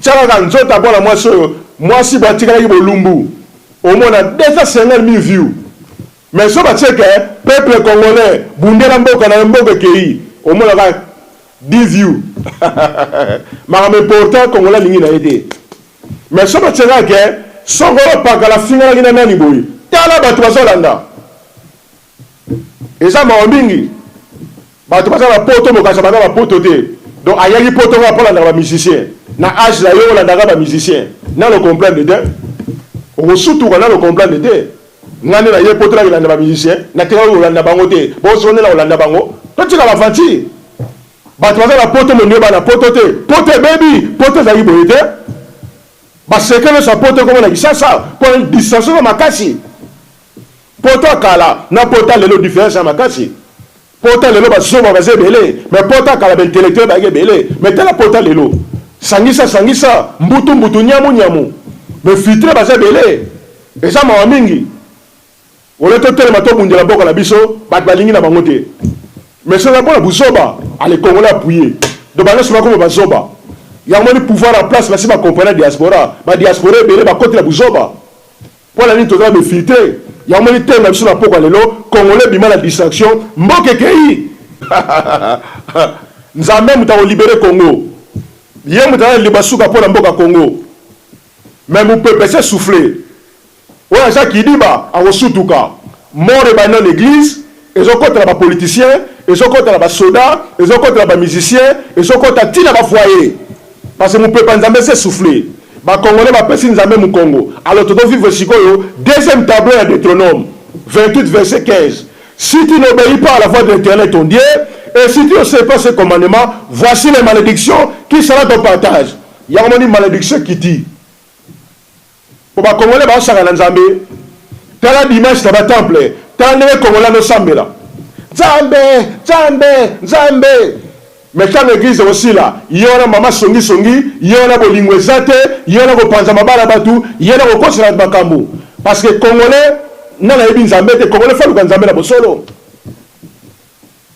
[SPEAKER 1] Tia kaka nzoto ya mwana mwasi oyo, mwasi boye atikalaki bolumbu. Omona 250000 view. Mais soki batie ke peuple congolais bundela mboka nayo mboka ekeyi, omona kaka 10 view. Makambo important congolais alingi naye te. Mais soki batie kaka ke songolo pakala afinganaki na nani boye, tala batu bazo landa. Eza mawa mingi batu baza na poto bokanisa baza ba poto te donc ayaki poto nga po alandaka ba musicien na age na yo olandaka ba musicien nano comprendre te okosutuka nano comprendre te nga nde naye poto nakolanda ba musicien natikaki kolanda bango te boso nde nakolanda bango totika ba aventure bato baza na poto molingi bana poto te poto ebebi poto ezalaki boye te baseke nyonso ya poto ekoma na kisasa mpo distance oza makasi Poto ya kala na poto ya lelo difference eza makasi. Poto ya lelo ba zoba baza ebele mais poto ya kala ba intellectuel bayaki ebele mais tala poto ya lelo sangisa sangisa mbutu mbutu nyamu nyamu mais filtre baza ebele eza mawa mingi ole totelema tobundela mboka na biso bato balingi na bango te mais soki mpona buzoba ale congolais appuye do bana soki bakoma bazoba yango moni pouvoir en place basi bacomprena diaspora badiaspora ebele bakotela buzoba Pona nini toza be filtre yango moni thème na biso na pokwa lelo congolais bima na distraction mboka ekeyi nzambe moto ako libere congo ye moto aza na liloba suka pona mboka congo mais mupepe se souffle oyo aza kidiba akosutuka mort ebandi na eglise Ezo kota na ba politiciens, ezo kota na ba soda, ezo kota na ba musiciens, ezo kota ti na ba foyer. Parce que mupepe ya Nzambe esi e souffler. Ba congolais ba pesi Nzambe mukongo. Alors tozo vivre sikoyo deuxième tableau ya Deuteronome 28 verset 15. Si tu n'obeyis pas à la voix de l'Eternel ton Dieu, et si tu n'observes pas ses commandements, voici les maledictions qui sera ton partage. Yango omoni malediction ekiti. Po ba congolais bazo saka na nzambe tala dimanche na ba temple tala ndenge congolais azo sambela nzambe nzambe nzambe mais tango eglise eko sila ye wana mama songi songi ye wana bolingo eza te ye wana ko panza mabala batu ye wana ko kosela batu makambu parce que congolais nani ayebi nzambe te congolais faut aluka nzambe na bosolo.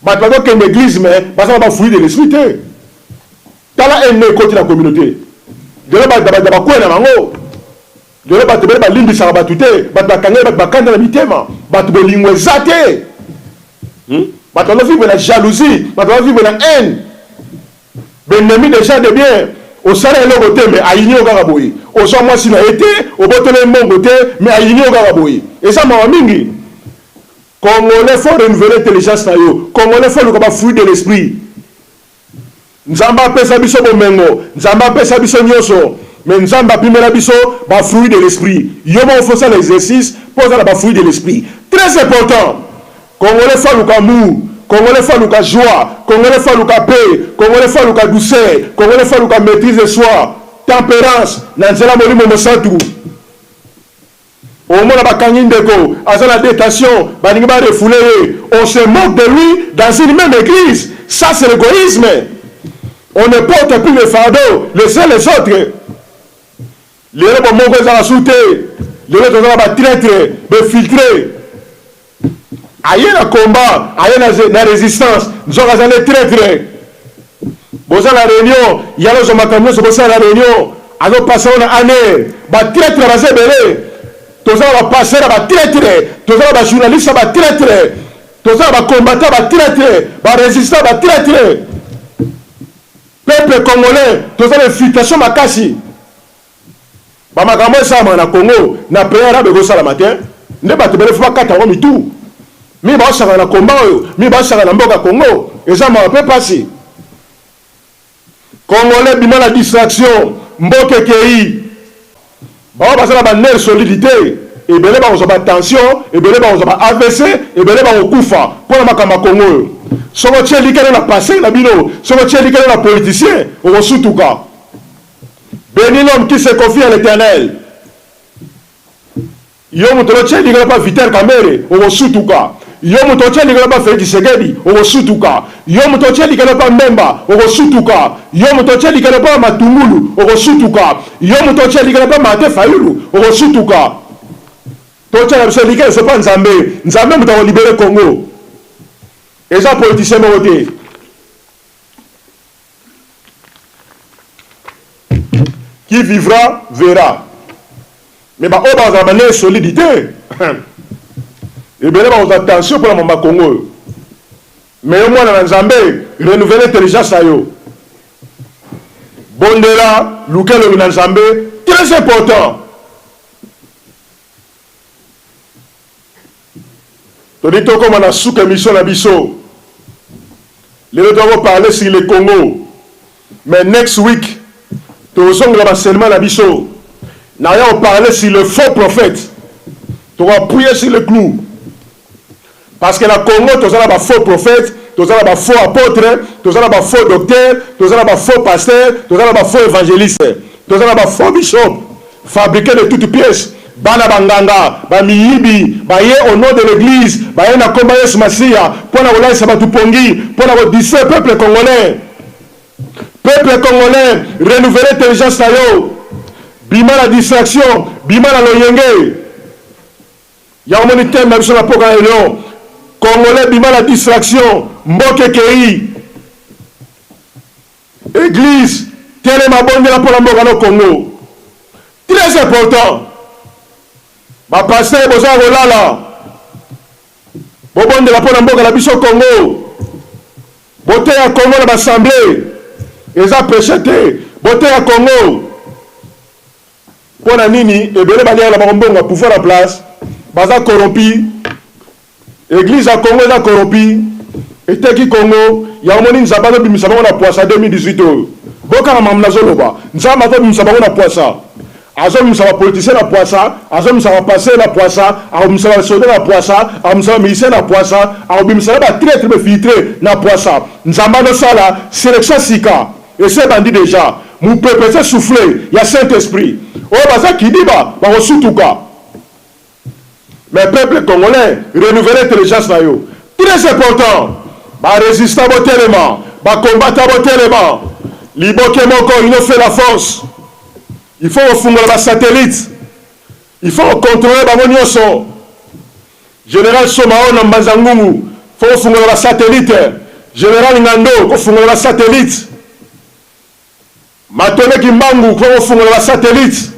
[SPEAKER 1] Batu bazo kende eglise mais baza na ba fruit de l'esprit te. Tala haine oyo ekoti na communaute. Lelo ba ba ba kue na bango. Lelo batu ebele ba limbisaka batu te. Batu ba kangeli batu ba kanda na mitema. Batu bolingo eza te. Hum? Batu bazo vivre na jalousie. Batu bazo vivre na haine. B'ennemi des gens de bien. Osala eloko te mais ayini yo kaka boye. Ozwa mwasi na ye te, oboteli ye mbongo te mais ayini yo kaka boye. Eza mawa mingi. Congolais faut renouveler intelligence na yo congolais faut oluka ba fruit de l'esprit nzambe apesa biso bomengo nzambe apesa biso nioso mais nzambe apimela biso ba fruit de l'esprit yo moko faut sala exercice po oza na ba fruit de l'esprit très important congolais faut aluka amour congolais faut aluka joie congolais faut aluka paix congolais faut aluka douceur congolais faut aluka maîtrise de soi temperance na nzela molimo mosantu Omona bakangi ndeko aza na detention balingi ba refouler ye on se moque de lui dans une meme eglise ça c'est l'egoisme on ne porte plus le fardeau les uns les autres lelo bomoko ezala su te lelo toza na ba traitre be filtre Aye na combat aye na resistance nzoka aza nde traitre boza na reunion ye alozwa makambo nionso bosala na reunion azo pase yango na aner ba traitre baza ebele toza na ba passer ba traitre toza na ba journaliste ba traitre toza na ba combattant ba traitre ba resistant ba traitre peuple congolais toza na infiltration makasi Ba makambo oyo esalamaka na Congo na pays arabe ekosalama te nde batu ebele faut bakata yango mitu mimi baosaka na combat oyo mimi baosaka na mboka Congo eza mawa pe pasi Congolais bima na distraction mboka ekeyi baoyo baza na ba nerf solide te ebele bakozwa ba tension ebele bakozwa ba avc ebele bakokufa mpo na makambo ya Congo oyo soki otie likeno na passe na bino soki otie likeno na politicien okosutuka Beni l'homme qui se confie à l'eternel yo moto otie likolo pa viter kamere okosutuka yo moto otie likolo pa felix tshisekedi okosutuka yo moto otie likolo pa mbemba okosutuka yo moto otie likolo pa matungulu okosutuka yo moto otie likolo pa mate fayulu okosutuka totya na biso like esopa nzambe nzambe moto akolibere congo eza politisien moko te Qui vivra verra. Mais ba oyo bazala ba ne solide te. Ebele ba oza tension pour la mama Congo yo. Mais yo mwana na Nzambe, renouveler intelligence na yo. Bondela, luka elobi na Nzambe, très important. Toli tokoma na suka emission na biso lelo toza ko parler sur le Congo mais next week tozongela ba seulement na biso na ya ko parler sur le faux prophète toko appuyer sur le clou parce que na Congo toza na ba faux prophète toza na ba faux apôtre toza na ba faux docteur toza na ba faux pasteur toza na ba faux évangéliste toza na ba faux bishop Fabrique de toute pièce bana ba nganga ba miyibi baye au nom de l'eglise baye na kombo ya yesu masiya pona kolalisa batu pongi pona ko distraire peuple congolais peuple congolais renouvelle intelligence na yo bima na distraction bima na loyenge ya omoni teme na biso na poka na lelo congolais bima na distraction mboke kei Eglise telema bondela pona mboka no Congo tres important ba pasteur boza ya kolala bobondela pona mboka na biso Congo boteya Congo na basemble eza peche te boteya Congo pona nini ebele baliaka na bango mbongo ya pouvoir na place baza corrompi Eglise ya Congo eza corropi eteki Congo yango omoni nzambe azo bimisa bango na puasa 2018 oyo bokanga makambo nazo loba nzambe azo bimisa bango na puasa azo bimisa ba politicien na puasa azo bimisa ba pasteur na puasa ako bimisa ba soda na puasa ako bimisa ba musicien na puasa ako bimisa na ba traitre ba filtre na puasa nzambe azo sala selection sika ese bandi deja mupepe ese souffle ya saint esprit oyo baza kidiba bako sutuka Mes peuples congolais renouveler intelligence na yo très important ba resistant botelema ba combattant botelema liboke moko il no fait la force il faut kofungola ba satellite il faut ko controle bango nionso general somao na mbanza ngungu faut kofungola ba satellite general ngando kofungola ba satellite Matole kimbangu faut kofungola ba satellites,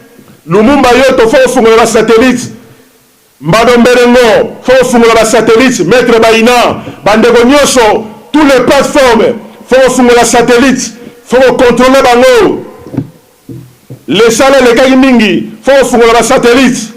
[SPEAKER 1] lumumba yoto faut kofungola ba satellites, mbado mberengo faut kofungola ba satellites, maitre bayina, ba ndeko nioso, tous les plateformes faut kofungola satellites, faut ko controler bango, lesala elekaki mingi faut kofungola ba satellites.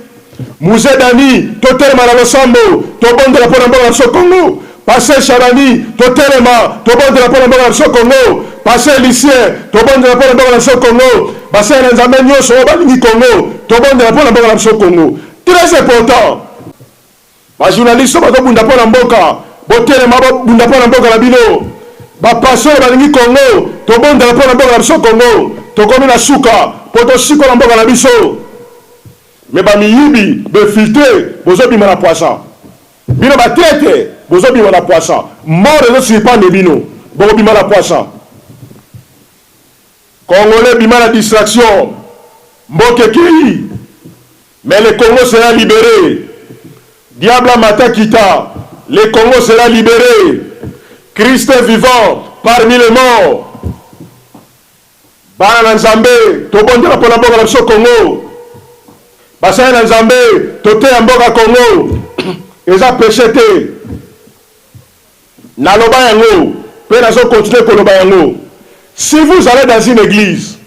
[SPEAKER 1] Muze Dani totelema na losambo tobondela mpo na mboka na biso Congo. Pasteur Shabani totelema tobondela mpo na mboka na biso Congo. Pasteur Lucien tobondela mpo na mboka na biso Congo. Basali na Nzambe nyonso oyo balingi Congo tobondela mpo na mboka na biso Congo. Très important. Ba journalistes bazo bunda mpo na mboka botelema bobunda mpo na mboka na bino. Ba pasteurs balingi Congo tobondela mpo na mboka na biso Congo. Tokomi na suka mpo tosikola mboka na biso. Mais ba miyibi, b'infiltre bozo bima na pwasa. Bino ba traitre bozo bima na pwasa. Mort ezo surprendre bino. Boko bima na pwasa. Congolais bima na distraction. Mboka ekeyi mais le Congo sera libere. Diable amata kita le Congo sera libere. Christ est vivant parmi les morts. Bana na Nzambe tobondela pona mboka na biso Congo basali na Nzambe toteya mboka Congo eza peche te naloba yango pe nazo continuer koloba yango si vous allez dans une eglise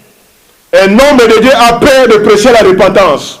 [SPEAKER 1] un homme de Dieu a peur de precher la repentance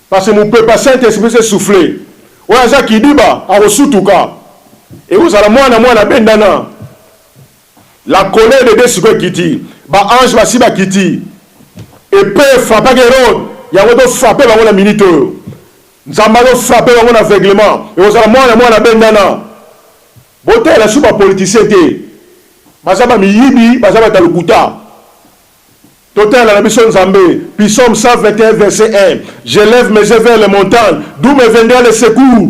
[SPEAKER 1] Parce que mupepa saint esprit ce souffle oyo aza kidiba akosutuka ekozala mwana mwana abendana la colère de Dieu sikoyo ekiti ba ange basi bakiti epee efrapaka Herode yango to frappe bango na minute oyo Nzambe azo frappe bango na aveuglement ekozala mwana mwana abendana botalela su ba politicien te baza ba miyibi baza bata lokuta. Totala na biso Nzambe. Psaume 121 verset 1 Je lève mes yeux vers les montagnes, d'où me viendra le secours?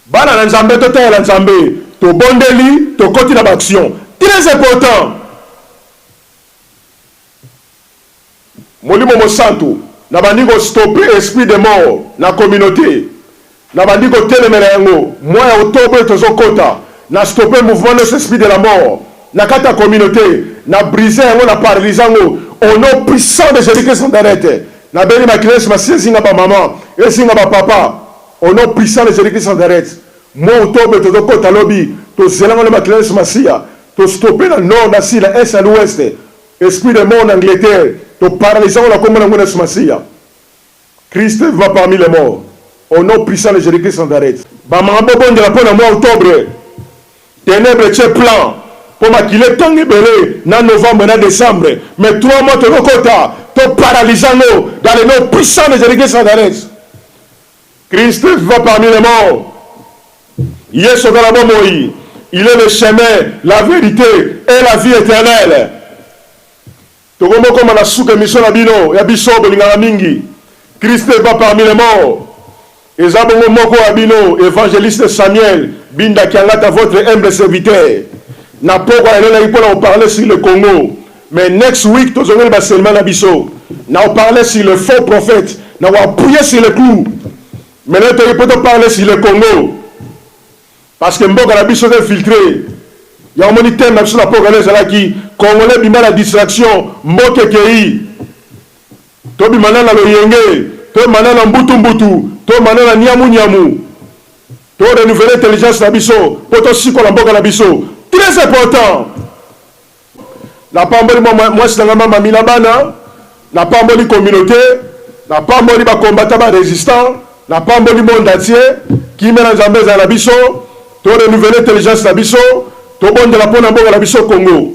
[SPEAKER 1] Bana na Nzambe, totalela Nzambe. Tobondeli, tokoti na ba actions. Très important! Molimo Mosantu, nabandi ko stopper esprit de mort na communaute. Nabandi kotelemela yango mois ya octobre tozo kota na stopper mouvement nos esprits de la mort na kati ya communaute na briser yango na paralyser yango au nom puissant de Jesus Christ Nazareth nabeli makila yesu masiya ezinga ba maman ezinga ba papa au nom puissant de Jesus Christ Nazareth mois octobre tozo kota lobi tozela yango na makila yesu masiya to stopper na nord na sud na est na l'ouest esprit de mort na Angleterre to paralyser yango na kombo na nguna yesu masiya. Christ vivant parmi les morts au nom puissant de Jesus Christ Nazareth. Ba maman bo bondela pona mois octobre tenèbres etier plan po makila etanga ebele na novembre na decembre mais trois mois tozo kota to paralyse yango dans le nom puissant de Jesus Christ Nazareth Christ vivant parmi les morts yesu aza na bomoyi il est le chemin la verite et la vie eternelle Tokomi kokoma na suka emission na bino ya biso bolingaka mingi christ est pas parmi les morts eza bongo moko ya bino evangeliste samuel binda kiangata votre humble serviteur na pokwa na lelaki pona ko parler sur le congo mais next week tozongeli ba selma na biso na ko parler sur le faux prophète na ko appuyer sur le clou mais na toki po to parler sur le congo Parce que mboka na biso eza infiltre yango omoni thème na biso na Pokela ezalaki congolais bima na distraction mboka ekeyi tobima nanu na loyenge tobima nanu na mbutu mbutu tobima nanu na niamu niamu to renouveler intelligence na biso po tosikola mboka na biso très important Napamboli mwasi na ngai mama Mila bana, napamboli communaute, napamboli ba combattants ba resistants, napamboli monde entier. Kimia na Nzambe ezala na biso, to renouveler intelligence na biso, tobondela mpo na mboka na biso Congo.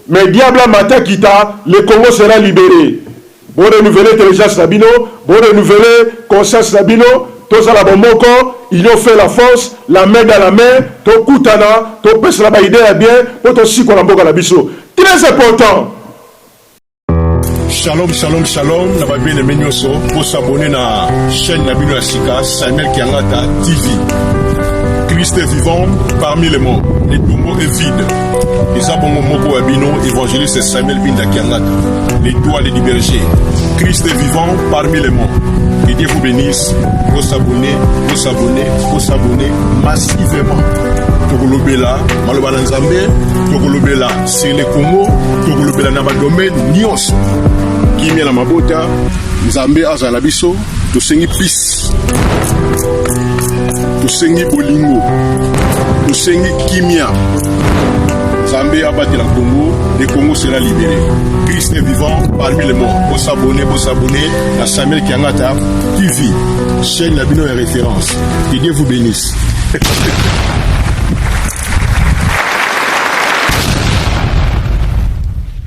[SPEAKER 1] Mais diable a mata kita, le Congo sera libere. Bo renouveler intelligence na bino, bo renouveler conscience na bino, tozala bomoko, union fait la force, la main dans la main, tokutana, topesana ba idees ya bien po tosikola mboka na biso. Très important!
[SPEAKER 2] Shalom shalom shalom na ba bien-aimés nyoso, bo s'abonner na chaîne na bino ya sika Samuel Kiangata TV. Christ est vivant parmi les morts, le tombeau est vide. eza bongo moko wa bino évangéliste samuel binda kiangata l'étoile du berger christ est vivant parmi les morts que dieu vous bénisse vous s'abonner vous s'abonner vous s'abonner massivement tokolobela maloba na nzambe tokolobela sur le congo tokolobela na badomaine nyonso kimia na mabota nzambe azala biso tosengi pise tosengi bolingo tosengi kimia nzambe abatela kongo le congo sera libéré christ est vivant parmi les morts bosabone bosabone na samuel kiangata tv chaîne na bino ya référence que dieu vous bénisse